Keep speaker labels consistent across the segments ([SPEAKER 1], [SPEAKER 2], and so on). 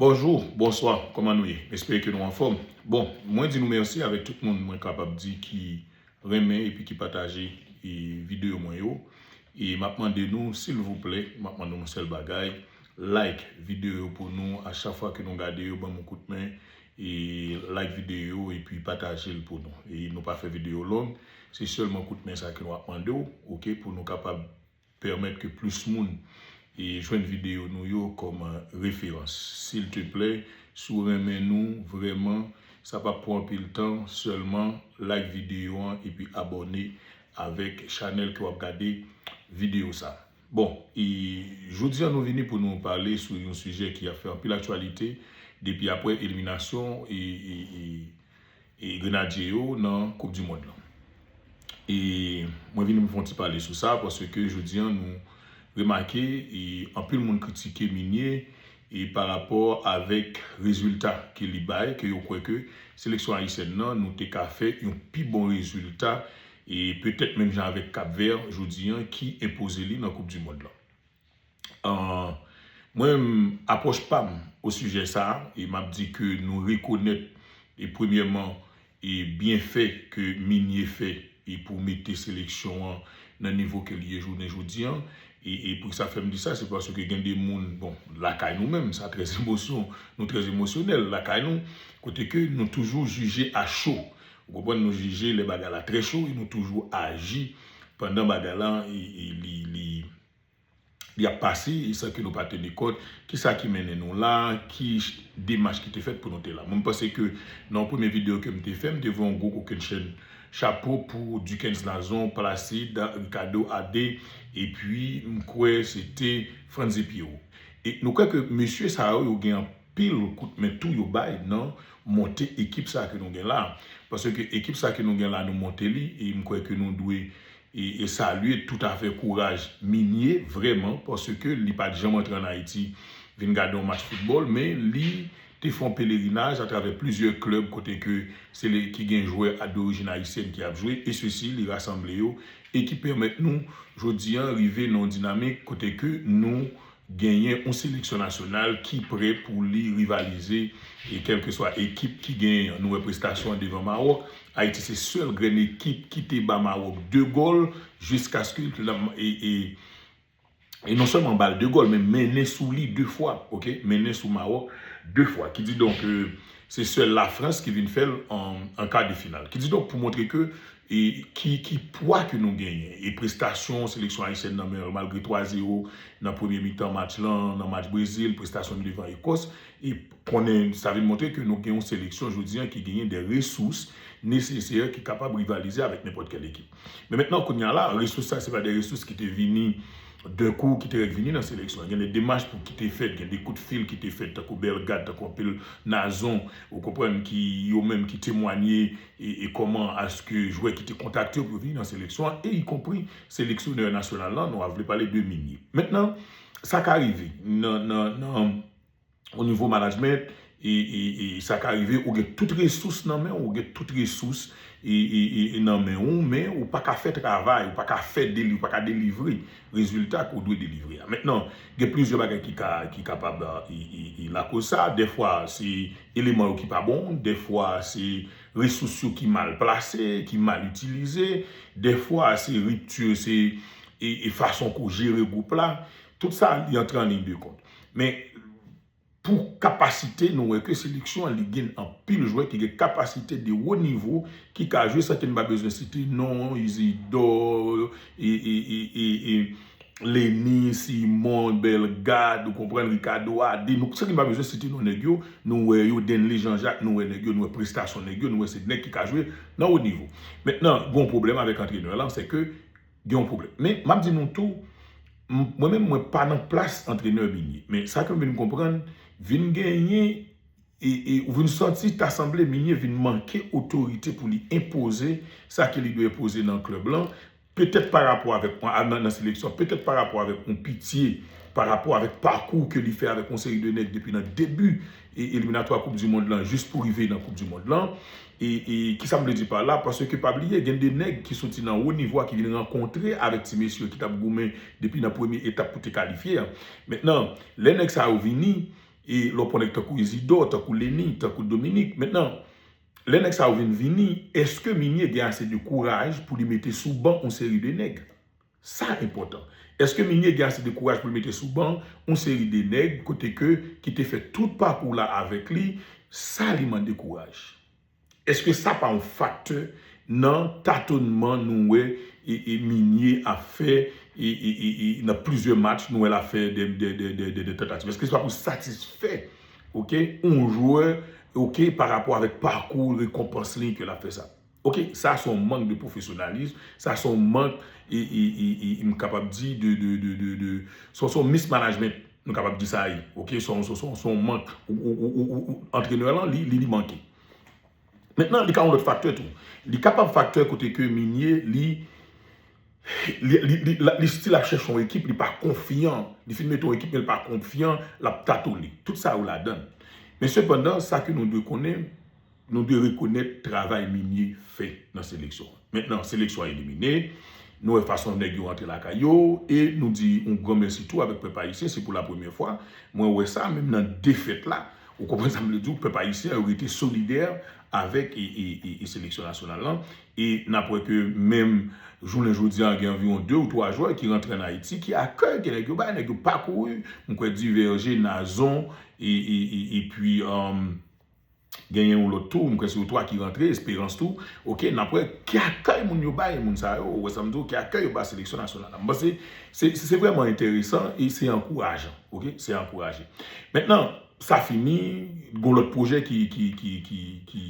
[SPEAKER 1] Bonjour, bonsoir kòman nou ye? M espere ke nou anfòm. Bon, mwen di nou mèsi avèk tout moun mwen kapab di ki renmen epi ki pataje videyo mwen yo. E m ap mande nou silvouplè, m ap mande nou yon sèl bagay, like videyo yo pou nou a chak fwa ke nou gade yo ban m yon kout men e like videyo yo epi pataje l pou nou. E nou pa fè videyo long, se sèlman kout men sa ke nou ap mande w ok pou nou kapab. Pèmèt ke plis moun jwenn videyo nou yo kòm referans. Silteplè, si w renmen nou vrèman, sa p ap pran anpil tan, sèlman like videyo an epi abòne avèk chanèl ke w ap gade videyo sa. Bon, e jodi an nou vini pou nou pale sou yon sijè ki ap fè anpil aktyalite depi apre eliminasyon e grenadye yo nan koup di mond lan e mwen vini pou fon ti pale sou sa paske ke jodi an nou remake e anpil moun kritike minye e pa rapò avèk rezilta ke li bay ke yo kwè ke seleksyon ayisyèn nan nou te ka fè yon pi bon rezilta e petèt menm jan avèk kapvè jodi an ki enpoze li nan koup di mond lan. Mwen menm apwòch pa m osijè sa a, e m ap di ke nou rekonèt e premyèman e byenfè ke Minye fè e pou mete seleksyon an nan nivo ke li ye jounen jodi an. E pou ki sa fè m di sa, se paske gen de moun, bon, lakay nou menm, sa trè emosyon, nou trè emosyonèl lakay nou, kote ke nou toujou jije a cho. Ou konprann, nou jije lè bagay la trè cho e nou toujou aji pandan bagay la li. li ap pase e san ke nou pa teni kont ki sa ki mennen nou la, ki demach ki te fèt pou nou te la. Mwen m panse ke nan yon premye videyo ke m te fè, m te voye yon gwo kokennchenn chapo pou Duckens Nazon, Placide, Ricardo AD, epi m kwè se te Frantzy Pierrot. E nou kwè ke mesye sa yo, yo gen anpil kout men tou yo bay nan monte ekip sa ke nou gen la. Paske ekip sa ke nou gen la, nou monte li e m kwè ke nou dwe E salye tout afè kouraj Minie vrèman paske li pat janm antre an Ayiti vin gade yon match foutbòl men li te fè yon pelerinaj atravè plizyè klèb kote ke se li ki gen jwè a dorijin ayisyèn ki ap jwe e sesi li rasanble yo e ki pèmèt nou jodi an rive nan yon dinamik kote ke nou Genyen yon seleksyon nasyonal ki pre pou li rivalize e kèlkeswa ekip ki genyen an. Nou wè prestasyon an devan Mawòk. Ayiti se sèl grenn ekip ki te ba Mawòk 2 gòl jiskaske l e non sèlman ba l 2 gòl men mennen sou li 2 fwa, ok, mennen sou Mawòk 2 fwa. Kididonk, Se sèl la France ki vin fèl an kar de final. Kididonk pou montre ke ki pwa ke nou genyen e prestasyon seleksyon Ayisyèn nan men malgre 3 zero nan premye mitan match lan nan match Brezil, prestasyon nou devan Ekòs e konnen sa vin montre ke nou gen yon seleksyon jodi an ki genyen de resous nesesè ki kapab rivalize avèk nenpòt kèl ekip. Men mentnan kounya la, resous sa se pa de resous ki te vini d'un kou, ki te rèk vini nan seleksyon an. Gen de demach pou ki te fèt, gen de kout fil ki te fèt, tankou Bellegarde, tankou anpil Nazon, ou konprann, ki yo menm ki temwanye e kòman aske jwè ki te kontakte yo pou yo vini nan seleksyon an, e ikonpri seleksyonè nasyonal lan, nou a vle pale de Migne. Mentnan, sa ka rive nan, nan, nan. o nivo management e sa ka rive ou gen tout resous nan men ou gen tout resous e nan men ou men ou pa ka fè travay ou pa ka fè ou pa ka delivre rezilta ke ou dwe delivre a. Mentnan gen plizyè bagay ki kapab e lakoz sa dèfwa se eleman yo ki pa bon dèfwa se resous yo ki mal plase ki mal itilize dèfwa se ripti se e fason ke ou jere gwoup la. Tout sa li antre an liy de kont. Men pou kapasite nou wè ke seleksyon an li gen anpil jwè ki gen kapasite de wo nivo ki ka jwe san ke nou pa bezwen site non Isidor e Lenny, Simon, Bellegarde ou konprann Ricardo Ade nou san ke nou pa bezwen site non nèg yo nou wè yo Denley Jean Jacques nou wè nèg yo nou wè prestasyon nèg yo nou wè se nèg ki ka jwe nan wo nivo. Mentnan gon pwoblèm avèk antrenè lan se ke Gen yon pwoblèm. Men, m ap di nou tou, mwen menm mwen pa nan plas antrenè Migne. Men, sa ke m vin konprann, vin genyen e ou vin santi ta sanble Migne vin manke otorite pou li enpoze sa ke li dwe enpoze nan klèb lan, petèt pa rapò avèk nan seleksyon, petèt pa rapò avèk yon Pitye, pa rapò avèk pakou ke li fè avèk yon seri de nèg depi nan debi eliminatwa koup di mond lan jis pou rive nan koup di mond lan. E kisa m vle di pa la, paske pa bliye gen de nèg ki soti nan wo nivo a ki vin rankontre avèk ti mesye ki t ap goumen depi nan premye etap pou te kalifye a. Mentnan, lè nèg sa yo vini, e lè w pran nèg tankou Izidò, tankou Leni, tankou Dominik, mentnan, lè nèg sa yo vin vini, èske Mimie gen ase de kouraj pou li mete sou ban yon seri de nèg? Sa enpòtan. Eske Migne gen ase de kouraj pou l mete sou ban yon seri de nèg kote ke ki te fè tout pakou la avèk li? Sa li mande kouraj. Eske sa pa yon faktè nan tatonman nou wè Migne ap fè nan plizyè match nou wè l ap fè dè tantativ? Eske se pa pou satisfè yon jwè parapò avèk pakou rekonpans li ke l ap fè sa? Ok sa se yon mank de profesyonalism, sa se yon mank m kapab di de de se yon mis management m kapab di sa ye ok se yon mank antrenè lan li manke. Mentnan li ka yon lòt faktè tou, li kapab faktè kote ke Migné li li stil ap chèche yon ekip li pa konfyan, li fin mete yon ekip men li pa konfyan l ap tatone, tout sa yo ladan. Men sepandan sa ke nou dwe konnen. Nou dwe rekonèt travay Mimie fè nan seleksyon an. Mentnan seleksyon an elimine, nou wè fason nèg yo rantre lakay yo e nou di yon gran mèsi tou avèk pèp ayisyen. Se pou la premyè fwa mwen wè sa, menm nan defèt la. Ou konprann sa m vle di w? Pèp ayisyen an rete solidè avèk seleksyon nasyonal lan e n ap wè ke menm jounen jodi a gen anviwon de ou twa jwè ki rantre ann Ayiti ki akèy ke nèg yo bay. Nèg yo pa kouri. M kwè Duverger, Nazon epi. Genyen yon lòt tou, m kwè se yo 3 ki rantre, Esperans tou, ok, n ap wè ki akèy moun yo bay moun sa yo, ou wè sa m di w, ki akèy yo bay seleksyon nasyonal la. M panse se se vrèman enteresan e se ankourajan, ok, se ankouraje. Mentnan, sa fini, gon lòt pwojè ki ki ki ki ki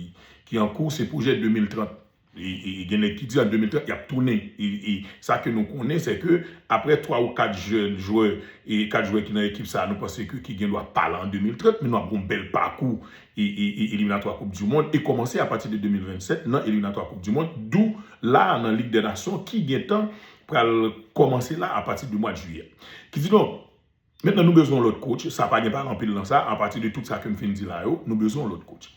[SPEAKER 1] ki ankou, se pwojè 2030. E gen nèg ki di an 2030 y ap tounen. E sa ke nou konnen se ke aprè 3 ou 4 jèn jwè, 4 jwè ki nan ekip sa a nou panse ke ki gen dwa pa la an 2030, men nou ap gen yon bèl pakou eliminatwa koup du mond e kòmanse apati de 2027 nan eliminatwa koup du mond dou la a nan lig dè nasyon ki gen tan pral kòmanse la apati de mwad jiyè. Kididonk. Mentnan nou bezwen yon lòt coach, sa pa gen pale anpil nan sa, a pati de tout sa kem fin di la yo, nou bezwen yon lòt coach.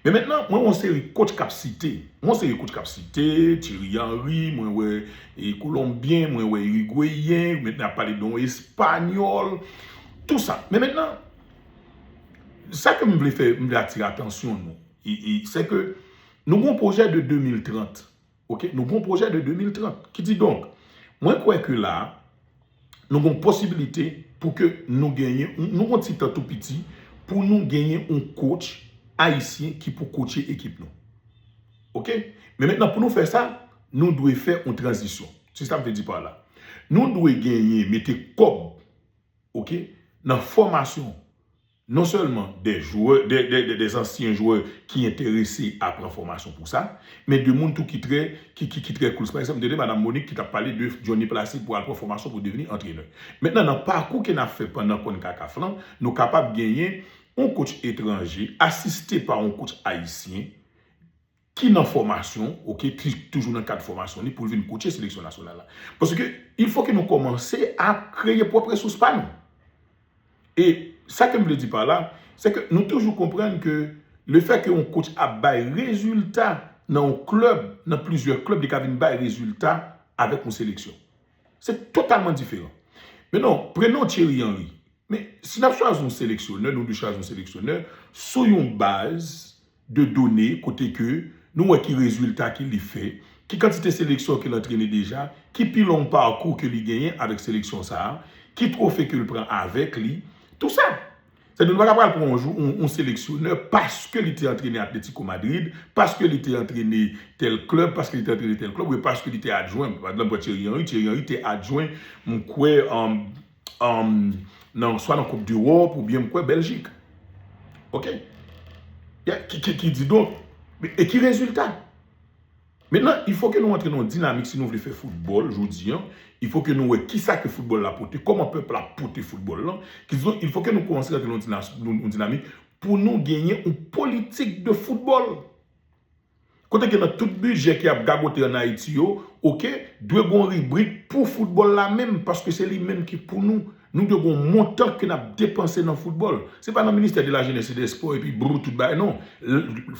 [SPEAKER 1] Men mentnan, mwen wè yon seri coach kap site, mwen wè yon seri coach kap site, Thierry Henry, mwen wè Colombien, mwen wè Uruguayen, mentnan yap pale de yon Espagnol, tout sa. Men mentnan, sa kem vle fè, m vle atire atansyon nou, e, e, sè ke nou gen yon pwojè de 2030. Ok, nou gon pwojè de 2030. Ki di donk, mwen kwè ke la, nou gon posibilite pou ke nou genyen, nou gon ti tan tou piti, pou nou genyen yon coach ayisyen ki pou coache ekip nou. Ok, men mentnan pou nou fè sa, nou dwe fè yon tranzisyon. Se sa m vle di pa la. Nou dwe genyen, mete kòb, ok, nan fòmasyon. Non sèlman de jwè, de zansyen jwè ki enterese a pran fòmasyon pou sa, men de moun tou ki trè, ki, ki trè cool. Pa egzanp, m te tande madam Monique ki t ap pale de Johnny Placide pou al pran fòmasyon pou devni antrenè. Mentnan nan pakou ke n ap fè pandan Concacaf lan, nou kapab genyen yon coach etranje asiste pa yon coach ayisyen, ki nan fòmasyon ok ki toujou nan kad fòmasyon li pou l vin kotche seleksyon nasyonal la paske il fò ke nou kòmanse a kreye pwòp resous pa nou e sa ke m vle di pa la se ke nou toujou konprann ke le fè ke yon kotch ap bay rezilta nan yon klèb nan plizyè klèb li ka vin bay rezilta avèk yon seleksyon se totalman diferan men non prenon Thierry Henry men si n ap chwazi yon seleksyonè nou dwe chwazi yon seleksyonè sou yon baz de done kote ke nou wè ki rezilta ke li fè, ki kantite seleksyon ke l antrene deja, ki pi long parkou ke li genyen avèk seleksyon sa a, ki twofe ke l pran avèk li, tou sa. Sa vle di nou pa ta pral pran yon jou yon seleksyonè paske li te antrene Atlético Madrid, paske li te antrene tèl klèb, paske li te antrene tèl klèb, oubyen paske li te adjwen, pa egzanp pran Thierry Henry, Thierry Henry te adjwen m kwè, swa nan koup dewòp oubyen m kwè Bèljik. Ok. Ki di donk, e ki rezilta? Mentnan, il fò ke nou antre nan yon dinamik si nou vle fè foutbòl jodi an, il fò ke nou wè ki sa ke foutbòl la pote, kòman pèp la pote foutbòl lan, ki di donk, il fò ke nou kòmanse rantre nan yon dinamik pou nou genyen yon politik de foutbòl. Kote ke nan tout bidjè ki ap gagote an Ayiti yo, ok, dwe gen yon ribrik pou foutbòl la menm, paske se li menm ki pou nou. Nou dwe gen yon montan ke n ap depanse nan foutbòl. Se pa nan ministè de la jenès e de espò epi brrou tout bagay non.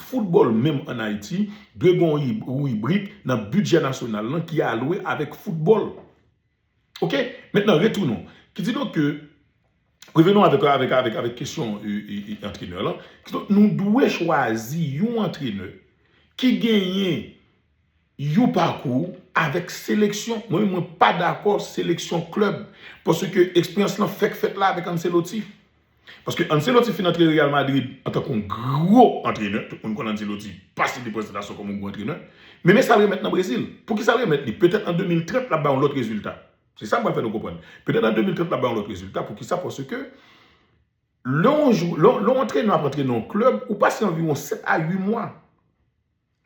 [SPEAKER 1] Foutbòl menm an Ayiti dwe gen yon ribrik nan bidjè nasyonal lan ki alwe avèk foutbòl. Ok maintenant retournons ki di donk ke revenons avec avec avec avec kesyon antrenè lan ki donk nou dwe chwazi yon antrenè ki genyen yon pakou avèk seleksyon mwen menm mwen pa dakò seleksyon club paske eksperyans lan fèk fèt la avèk Ancelotti. Paske Ancelotti fin antre Real Madrid antan kon gwo antrenè, tout moun konn Ancelotti pa sibi prestantasyon kon moun gwo antrenè, men men sal remèt nan Brezil. Pouki sal remèt li? Petèt an 2030 lap bay yon lòt rezilta. Se sam pral fè nou konprann. Petèt an 2030 lap bay yon lòt rezilta, pouki sa? Paske lè yon antrenè ap antrene yon klèb, ou pase anviwon 7 a 8 mwa.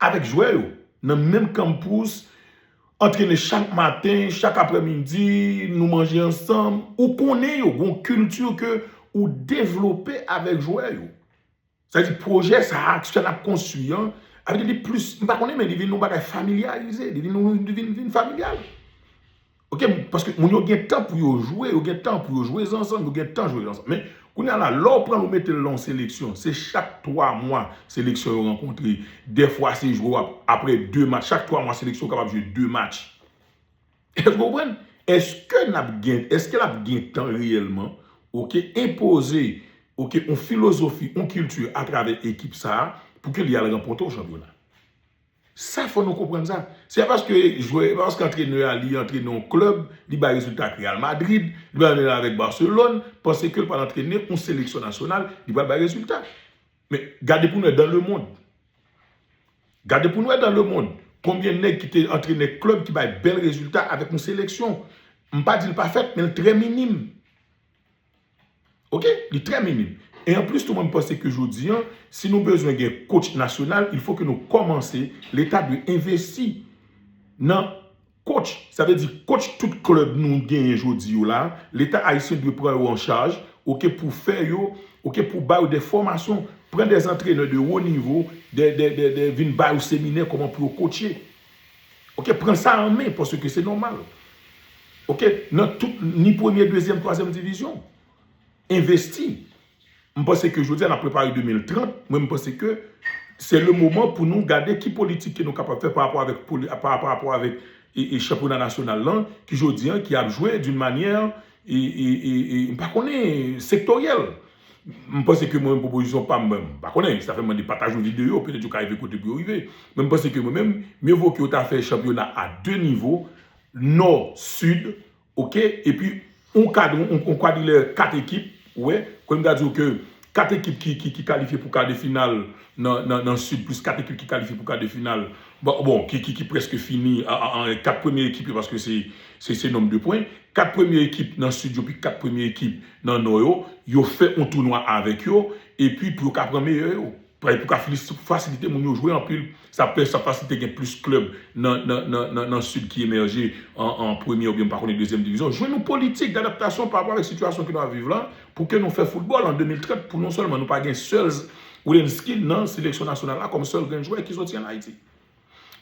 [SPEAKER 1] Avèk jwè yo nan menm kanmpous, antrene chak maten, chak aprèmidi, nou manje ansanm, ou konnen yo, gen yon kilti ke ou devlope avèk jwè yo. Sa vle di pwojè sa a, sa n ap konstwi an, sa vle di li plis, m pa konnen men li vin yon bagay familyarize, li vin familyal. Ok paske moun yo gen tan pou yo jwe yo gen tan pou yo jwe zanzann yo gen tan jwe zanzann men kounya la lè w pran l ou mete l nan yon seleksyon se chak 3 mwa seleksyon yo rankontre dèfwa se jwe w ap aprè 2 match chak 3 mwa seleksyon kapab jwe 2 match èske w konprann èske n ap gen èske l ap gen tan reyèlman ok enpoze ok yon filozofi yon kilti atravè ekip sa a pou ke li al ranpòte yon chanpyona. Sa fò nou konprann sa. Se pa paske jwè, se pa paske antrenè a li antrene yon klèb, li bay rezilta ak Real Madrid, li bay rezilta avèk Barcelone, panse ke l pral antrene yon seleksyon nasyonal, li pral bay rezilta. Men, gade pou nou wè dan lemond. Gade pou nou wè dan lemond. Konbyen nèg ki te antrenè klèb ki bay bèl rezilta avèk yon seleksyon. M pa di l pa fèt, men l trè minim. Ok, li trè minime. E an plis tou mwen panse ke jodi an, si nou bezwen gen coach nasyonal, il fo ke nou komanse, leta dwe envesti nan coach. Sa vle di coach tout club nou genyen jodi yo la, leta ayisyen dwe pran yo an chaj, ok, pou fè yo, ok, pou ba yo de fomasyon, pran de antrenè de wo nivo, de, de, de, de, vin ba yo seminè koman pou yo coache. Ok pran sa an men paske ke se nòmal. Ok nan tout ni premye dezyèm twazyèm divizyon. Envesti. M panse ke jodi a n ap prepare 2030 mwen m panse ke se le moman pou nou gade ki politik ke nou kapab fè pa rapò avèk pa rapò avèk e chanpyona nasyonal lan ki jodi an ki ap jwe doun manyè e e e m pa konnen sektoryèl. M panse ke mwen menm pwopozisyon pa m, m pa konnen, sa fè m mande pataj yon videyo, petèt yo ka rive kote pou yo rive. Men m panse ke mwen menm, mye vo ke yo ta fè chanpyona a 2 nivo, Nò, Sid, ok, epi yon kad, yon kwadrilè 4 ekip, ou wè, kòm m ta di w ke 4 ekip ki kalifye pou kar de final nan Sid plis 4 ekip ki kalifye pou kar de final, bon, ki prèske fini, 4 premye ekip yo paske se nonm de pwen, 4 premye ekip nan Sid yo pi 4 premye ekip. nan nò yo, yo fè yon tou nwa avèk yo, epi pou yo ka pran meyè yo. Pou yo ka fasilite moun yo jwe anpil. Sa ap fasilite gen plis klèb nan sid ki emèje an premye oubyen m pa konnen dezyèm divizyon. Jwenn yon politik dadaptasyon pa rapò avèk sitiyasyon ke nou ap viv la pou ke nou fè foutbòl an 2030 pou non sèlman nou pa gen sèl Wilensky nan seleksyon nasyonal la kòm sèl grenn jwè ki soti an Ayiti.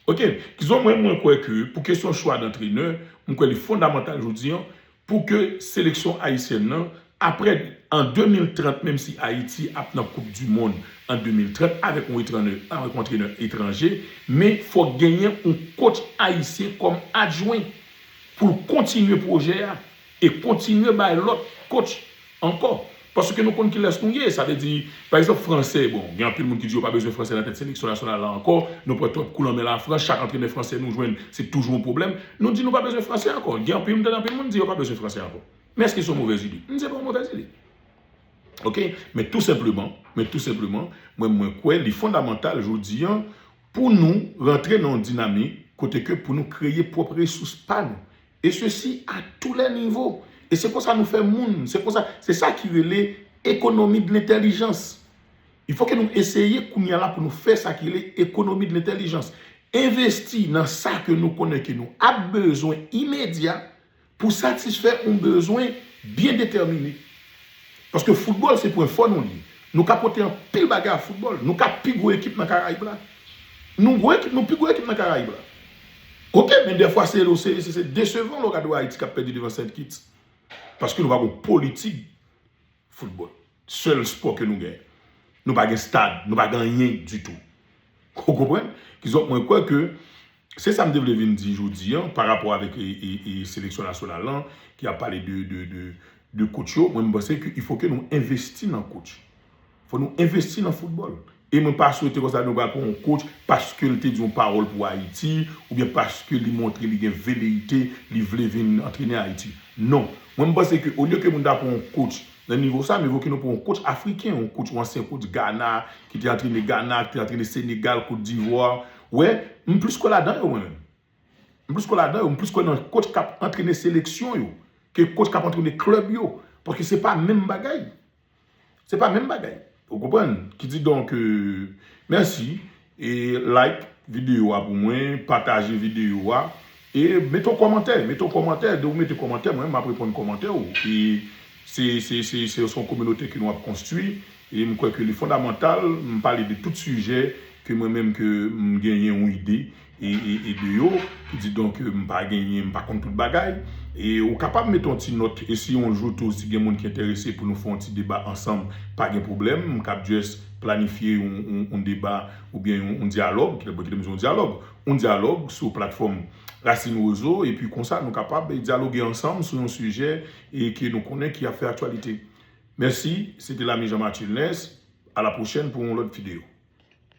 [SPEAKER 1] Ok, kizon mwen mwen kwè ke pou kesyon chwa dantrenè, mwen kwè li fondamantal jodi an pou ke seleksyon ayisyèn nan aprè an 2030 menm si Ayiti ap nan koup di mond an 2030 avèk yon etranè avèk yon antrenè etranje men fòk genyen yon kotch ayisyen kòm adjwen pou l kontinye pwojè a. E kontinye bay lòt coach ankò. Paske nou konn kilès nou ye. Sa vle di, pa egzanp franse, bon gen anpil moun ki di yo pa bezwen franse nan tèt seleksyon nasyonal la ankò. Nou pran twòp kou nan men lafrans. Chak antrenè franse nou jwenn, se toujou yon pwoblèm. Nou di nou pa bezwen franse ankò. Gen anpil, m tande anpil moun di yo pa bezwen franse ankò. Men èske se yon movèz ide? N, se pa yon movèz ide. Ok. Men tou senpleman, men tou senpleman, mwen mwen kwè li fondamantal jodi an pou nou rantre nan yon dinamik kote ke pou nou kreye pwòp resous pa nou. Et ceci a tous les niveaux. Et se konsa nou fè moun. Se konsa, se sa ki rele ekonomi de l'intelligence. Il faut que nou eseye kounye a la pou nou fè sa ki rele ekonomi de l'intelligence. Envesti nan sa ke nou konnen ke nou ap bezwen imedya pou satisfè yon bezwen byen detèmine. Paske foutbòl se pwen fò nou li. Nou ka pote anpil bagay a foutbòl. Nou ka pi gwo ekip nan Karayib la. Nou gwo ekip, nou pi gwo ekip nan Karayib la. Ok men dèfwa se nou se se desevan lè w gade yon Ayiti kap pèdi devan Saint Kitts paske nou pa gen yon politik football sèl spò ke nou gen nou pa gen stad nou pa gen anyen ditou ou konprann kizonk mwen kwè ke se sa m te vle vin di jodi an pa rapò avèk e seleksyon nasyonal lan ki ap pale de de de de coach yo mwen m panse ke ifo ke nou envesti nan coach Fò nou envesti nan foutbòl. E mwen pa swete konsa nou pral pran yon coach paske l te di yon pawòl pou Ayiti oubyen paske li montre li gen veleyite li vle vin antrene Ayiti. Non. Mwen m panse ke olye ke moun ta pran yon coach nan nivo sa, mivo ke nou pran yon coach afriken, yon coach, yon ansyen coach Ghana ki te antrene Ghana, ki te antrene Senegal, Cote d'Ivoire. Ou wè, m plis kwè ladan yo mwen menm. M plis kwè ladan yo. M plis kwè nan coach k ap antrene seleksyon yo ke coach k ap antrene club yo. Paske se pa menm bagay. Se pa menm bagay. Ou konprann? Ki di donk, mèsi e like videyo a pou mwen, pataje videyo a e mete yon kòmantè. Mete yon kòmantè. Depi ou mete kòmantè, mwen menm m ap reponn kòmantè ou. E se, se, se, se yon kominote ke nou ap konstwi e m kwè ke li fondamantal m pale de tout sijè ke mwen menm ke m genyen yon ide. e de yo, kididonk m pa genyen, m pa konn tout bagay, e ou kapab mete yon ti nòt, e si yon jou tou si gen moun ki enterese pou nou fè yon ti deba ansanm, pa gen pwoblèm, m kab jès planifye yon deba oubyen yon dyalòg, ki ta vle di yon dyalòg, yon dyalòg sou platfòm Racine Roseau, e pi konsa nou kapab dyaloge ansanm sou yon sijè e ke nou konnen ki ap fè aktyalite. Mèsi, se te Lamy Jean Mathieu Nès, a la pwochèn pou yon lòt videyo.